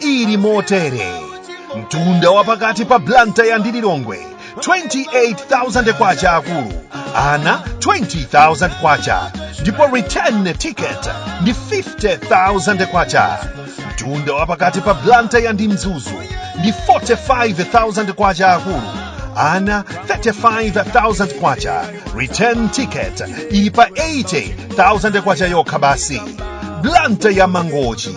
ili motere mtunda wa pakati pa blantyre ndi lilongwe 28000 kwacha akulu ana 20000 kwacha ndipo return ticket ndi 50000 kwacha mtunda wa pakati pa blantyre ndi mzuzu ndi 45000 kwacha akulu ana 35000 kwacha return ticket ili pa 80000 kwacha yokha basi blantyre mangochi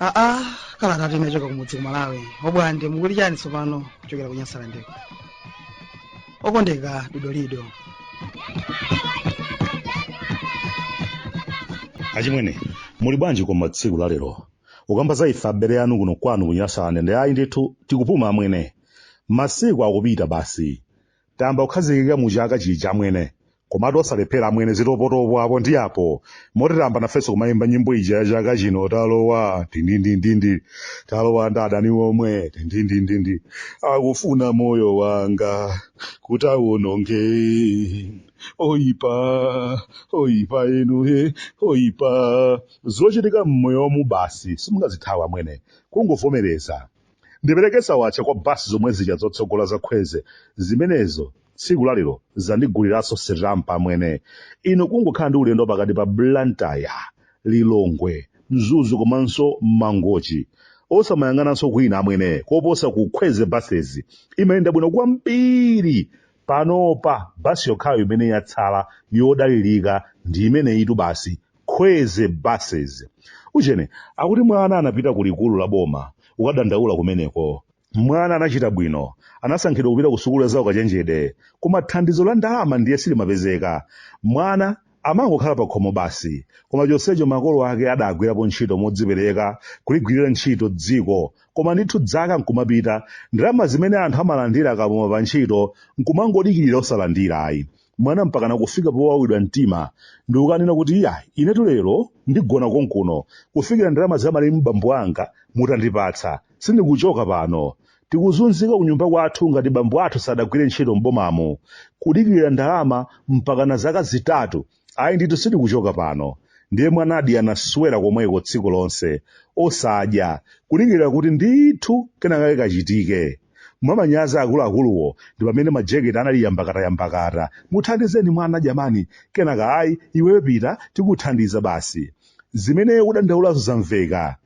aa kalata inachoka kumudzi ku malawi obwande mukuti chani tsopano kuchokera ku nyasalandeko okondeka dodolido achimwene muli bwanji koma tsiku la lero ukamba za ife abale anu kuno kwanu ku nyasalande ayi ndithu tikupuma amwene masiku akupita basi tayamba kukhazikika mu chaka chija amwene komatu osalephera amwene zitopotopo apo ndi apo moti tayamba nafenso kumayimba nyimbo ija ya chaka chino talowa tindindindindi talowa ndi adani omwe tindindindindi akufuna moyo wanga kuti awononge oyipa oyipa inu oyipa Zochitika mmoyomu basi simungazithawe amwene kungovomereza. Ndipereke sawatcha kwa bus zomwe zija zotsogola za khwezy zimenezo tsiku la lero zandiguliranso sitampa amwene. Inu kungokhala ndi ulendo wapakati pa Blantyre, Lilongwe, Mzuzu komanso Mangochi osamayang'ananso kwina amwene koposa ku khweze buses imayenda bwino kwambiri. Panopa bus yokhayo imene yatsala yodalirika ndi imeneyitu basi. khwezy buses uchene akuti mwana anapita ku likulu la boma ukadandaula kumeneko mwana anachita bwino anasankhidwa kupita ku sukulu za ukachenjede koma thandizo la ndalama ndiye silimapezeka mwana amangokhala pa khomo basi koma chonsecho makolo ake adagwirapo ntchito modzipereka kuligwirira ntchito dziko koma ndithu dzaka nkumapita ndalama zimene anthu amalandira akapuma pa ntchito nkumangodikirira osalandira ayi mwana mpakana kufika powawidwa mtima ndikukanena kuti iya inetu lero ndigona konkuno kufikira ndalama za malemu bambo anga mutandipatsa sindikuchoka pano tikuzunzika kunyumba kwathu ngati bambo athu sadagwire ntchito m'bomamo kudikirira ndalama mpakana zaka zitatu ayi ndithu sindikuchoka pano ndiye mwanadi anaswera komweko tsiku lonse osadya kudikirira kuti ndithu kenakake kachitike mwamanyazi akuluakuluwo ndi pamene majeketi anali yambakatayambakata muthandizeni mwana jamani kenaka ayi iweyo pita tikuthandiza basi zimene ukudandaulazo zamveka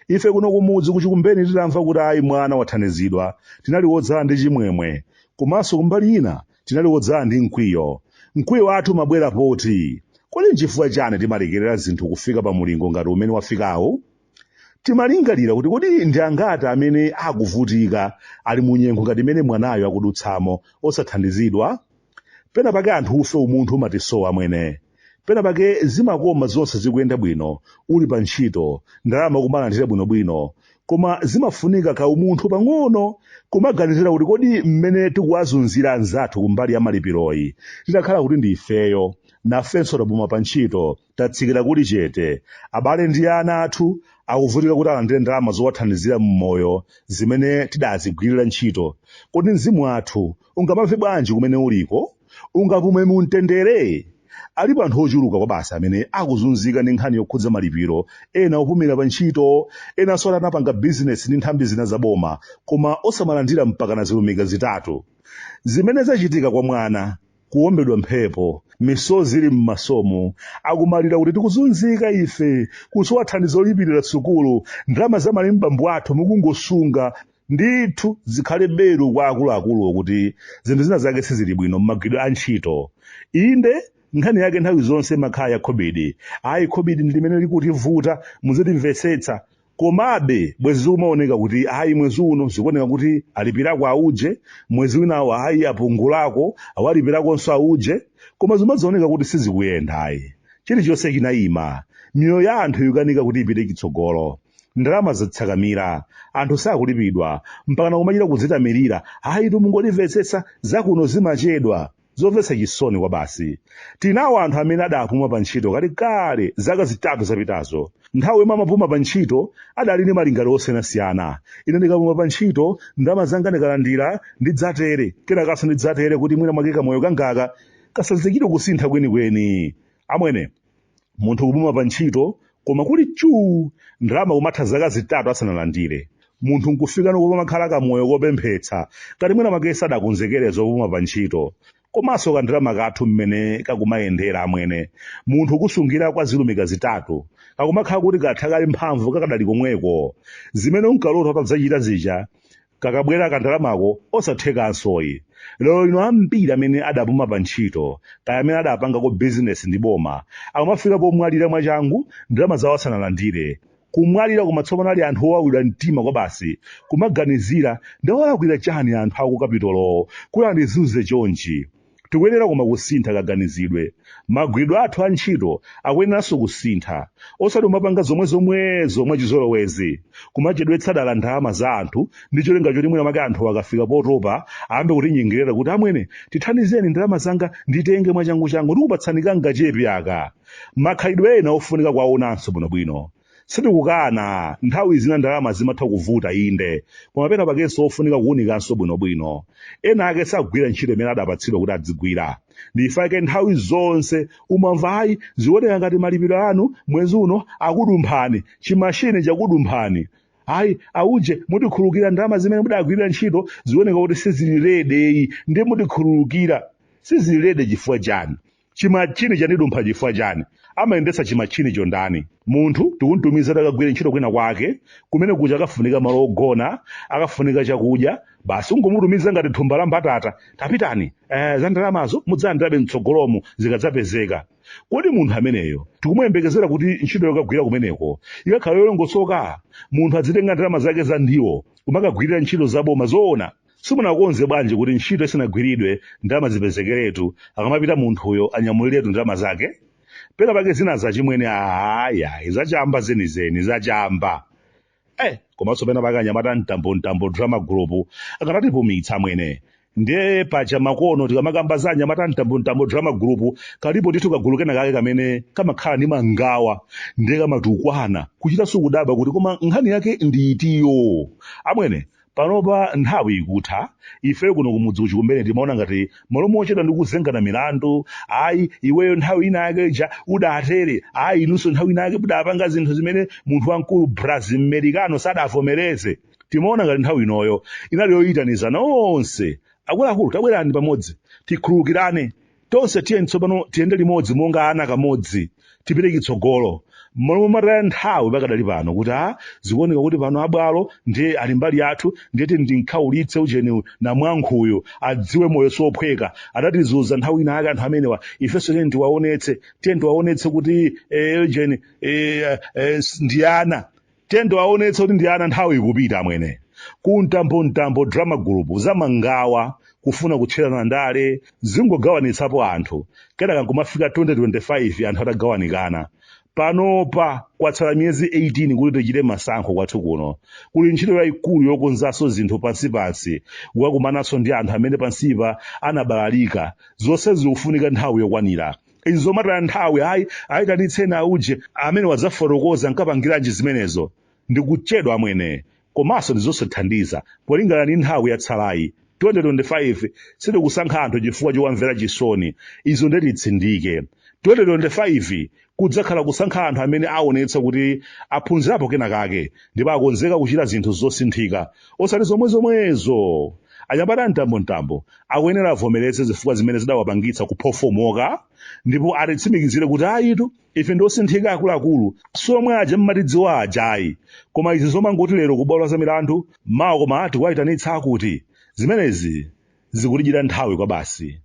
ife kuno kumudzi kuchikumbeni titamva kuti ayi mwana wathandizidwa tinali wodzala ndi chimwemwe komanso kumbali ina tinali wodzala ndi mkwiyo mkwiyo wathu umabwera poti kodi nchifukwa chani timalekerera zinthu kufika pa mulingo ngati umene wafikawu Timalingalira kuti kodi ndi angati amene akuvutika ali mu nyengo ngati imene mwanayo akudutsamo osathandizidwa? Pena pake anthufe umunthu umatisowa amwene. Pena pake zimakoma zonse zikuyenda bwino, uli pa ntchito, ndalama kumalandira bwinobwino. Koma zimafunika kaumunthu pang'ono, kumaganizira kuti kodi mmene tikuwazunzira anzathu kumbali ya malipiroyi, titakhala kuti ndi ifeyo, nafenso tapuma pa ntchito, Tatsikira kulichete. Abale ndi ana athu akuvutika kuti alandire ndalama zowathandizira m'moyo zimene tidazigwirira ntchito. Kodi mzimu wathu ungamamve bwanji kumene uliko? Ungapume mu mtendere? Alipo anthu ochuluka kwabasi amene akuzunzika ndi nkhani yokhudza malipiro, ena opumira pa ntchito, enanso ati anapanga bizinesi ndi nthambi zina za boma koma osamalandira mpaka na zilumika zitatu. Zimene zachitika kwa mwana. kuwombedwa mphepo misozi ili m'masomo akumalira kuti tikuzunzika ife kusowa thandizo lolipirira sukulu ndalama za malemu bambo athu mukungosunga ndithu zikhale belu kwa akuluakuluwo kuti zinthu zina zake sizili bwino m'magwiridwe a ntchito inde nkhani yake nthawi zonse imakhala ya khobidi ayi khobidi ndi limene likutivuta muzitimvetsetsa Komabe, bwezi zikumaoneka kuti ayi mwezi uno zikuoneka kuti alipirako auje, mwezi winawo ayi apungulako, awalipirakonso auje, koma zimadzaoneka kuti sizikuyenda ayi. Chilichonse chinayima. Miyoyo ya anthu ikukanika kuti ipite chitsogolo. Ndalama zatsakamira. Anthu sakulipidwa. Mpakana kumachita kudzitamirira, ayitu mungotimvetsetsa, zakuno zimachedwa. Zomvetsa chisoni kwabasi. Tinawo anthu amene adapuma pantchito kalekale zaka zitatu zapitazo. Nthawi yomwe amapuma pantchito adali ndi malingaliro osiyanasiyana. Ine ndikapuma pantchito, ndalama zanga ndikalandira, ndidzatere, kenakanso ndidzatere kuti mwina mwake kamoyo kangaka kasadzachite kusintha kwenikweni. Amwene! munthu kupuma pa ntchito koma kuli chuu ndalama kumatha zaka zitatu asanalandire munthu nkufikano pomakhala kamoyo kopemphetsa ngati mwina mwake sadakonzekere zopuma pa ntchito komanso kandalama kathu mmene kakumayendera amwene munthu kusungira kwa zilumika zitatu kakumakhala kuti katha kale mphamvu kakadali komweko zimene unkalota utadzachita zija kakabwera kandalamako osathekansoyi lero lino ambiri amene adapuma pa ntchito kaya amene adapangako bizinesi ndi boma akumafika pomwalira mwachangu ndalama zawo asanalandire kumwalira koma tsopano ali anthu owawidwa mtima kwa basi kumaganizira ndawalakwira chani anthu akukapitolowo kuti andizunze chonchi Tikuyenera koma kusintha kaganizidwe. Magwiridwe athu a ntchito akuyeneranso kusintha, osati kumapanga zomwe zomwezo mwachizolowezi, kumachedwetsa dala ndalama za anthu ndi cholinga choti mwina mwake anthu akafika potopa ayambe kutinyengerera kuti amwene tithandizeni ndalama zanga nditenge mwachanguchangu ndikupatsani kangachepe aka. Makhalidwe ena ofunika kuwaonanso bwinobwino. Sitikukana, nthawi zina ndalama zimatha kuvuta inde, koma pena pakenso ofunika kuunikanso bwinobwino. Ena ake sagwira ntchito imene adapatsidwa kuti adzigwira. Ndi chifukwa chake nthawi zonse umamva ayi zioneka ngati malipiro anu mwezi uno akudumphani, chimashini chakudumphani. Ayi, auje mutikhululukira ndalama zimene mudagwirira ntchito zioneka kuti sizili ready-yi, ndiye mutikhululukira. Sizili ready chifukwa chani? chimatchini chandidumpha chifukwa chani amayendetsa chimatchinicho ndani munthu tikumtumiza akagwire ntchito kwina kwake kumene kuja akafunika malo ogona akafunika chakudya basi ungomutumiza ngati thumba la mbatata tapitani eh, za ndalamazo mudzalandirabe mtsogolomu zikadzapezeka kodi munthu ameneyo tikumuyembekezera kuti ntchito yokagwira kumeneko ikakhala yolongosoka munthu adzitenga ndalama zake za ndiwo kumakagwirira ntchito zaboma zoona simunakonze bwanji kuti ntchito isanagwiridwe ndalama zipezekeretu akamapita munthuyo anyamuliretu ndalama zake pena pake zina zachimwene ayayi zachamba zenizeni zachamba eh komanso pena pake anyamata mtambo mtambo drama group akanatipumitsa amwene ndiye pacha makono tikamakamba za anyamata mtambo mtambo drama group kalipo ndithu kagulu kena kake kamene kamakhala ndi mangawa ndiye kamatukwana kuchita sukudabwa kuti koma nkhani yake ndi itiyo amwene panopa nthawi ikutha ifeyo kuno kumudzi uchi kumene timaona ngati mmalo mochedwa ndi kuzengana milandu ayi iweyo nthawi ina yake ija udatere ayi inunso nthawi ina yake mudapanga zinthu zimene munthu wamkulu brazil mmerikano sadavomereze timaona ngati nthawi inoyo inali yoyitanizana onse akuluakulu tabwerani pamodzi tikhululukirane Tonse tiyeni tsopano tiyende limodzi monga ana kamodzi, tipite chitsogolo. Mmalo momataya nthawi pakadali pano kuti a zikuoneka kuti pano abwalo ndiye ali mbali yathu ndiye tiyeni timkhaulitse ujeni namwankhuyu adziwe moyo siophweka adatizunza nthawi ina yake anthu amenewa ifenso tiyeni tiwaonetse tiyeni tiwaonetse kuti eh, ujeni eh, eh, ndi ana Tiyeni tiwaonetse kuti ndi ana nthawi ikupita amwene. Ku mtambo mtambo drama group za mangawa kufuna kutcherana ndale zingogawanitsapo anthu kenaka nkumafika 2025 anthu atagawanikana. Panopa kwatsala miyezi 18 kuti tichite masankho kwathu kuno. Kuli ntchito yaikulu yokonzanso zinthu pansipansi kukakumananso ndi anthu amene pansipa anabalalika. Zonse zikufunika nthawi yokwanira. izi zomataya nthawi ayi ayitanitseni auje amenewa adzafotokoze ankapangiranji zimenezo ndikuchedwa amwene komanso ndizosathandiza polingana ndi nthawi yatsalayi 2025 sitikusankha anthu chifukwa chowamvera chisoni izo nde titsindike 2025 kudzakhala kusankha anthu amene aonetsa kuti aphunzirapo kena kake ndipo akonzeka kuchita zinthu zosinthika osati zomwe zomwezo anyamata mtambo mtambo akuyenera avomereze zifukwa zimene zidawapangitsa kuphofomoka ndipo atitsimikizire kuti ayitu ife ndi osinthika akuluakulu si omwe aja mmatidziwa ajayi koma izi zomangoti lero kubwalo la milandu mawa koma ati kuwayitanitsa akuti zimenezi zikutidyera nthawi kwabasi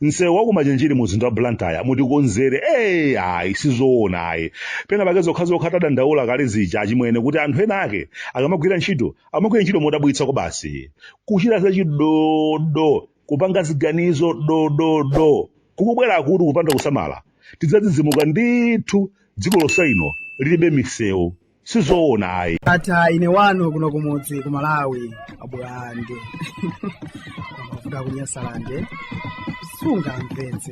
msewu wakumachinjiri mu mzinda wa blantyre mutikonzere ee ayi sizoona ayi pena pake zokhazokha tadandaula kale zija achimwene kuti anthu ena ake akamagwira ntchito amagwira ntchito modabwitsa kwabasi kuchita zachidodo kupanga ziganizo dododo kukubwerakutu kupanda kusamala tidzadzidzimuka ndithu dziko lonse lino lilibe misewu sizoona ayi ndatha ine wanu kuno kumudzi ku malawi abwande amavuta akunyasalande sungamvetse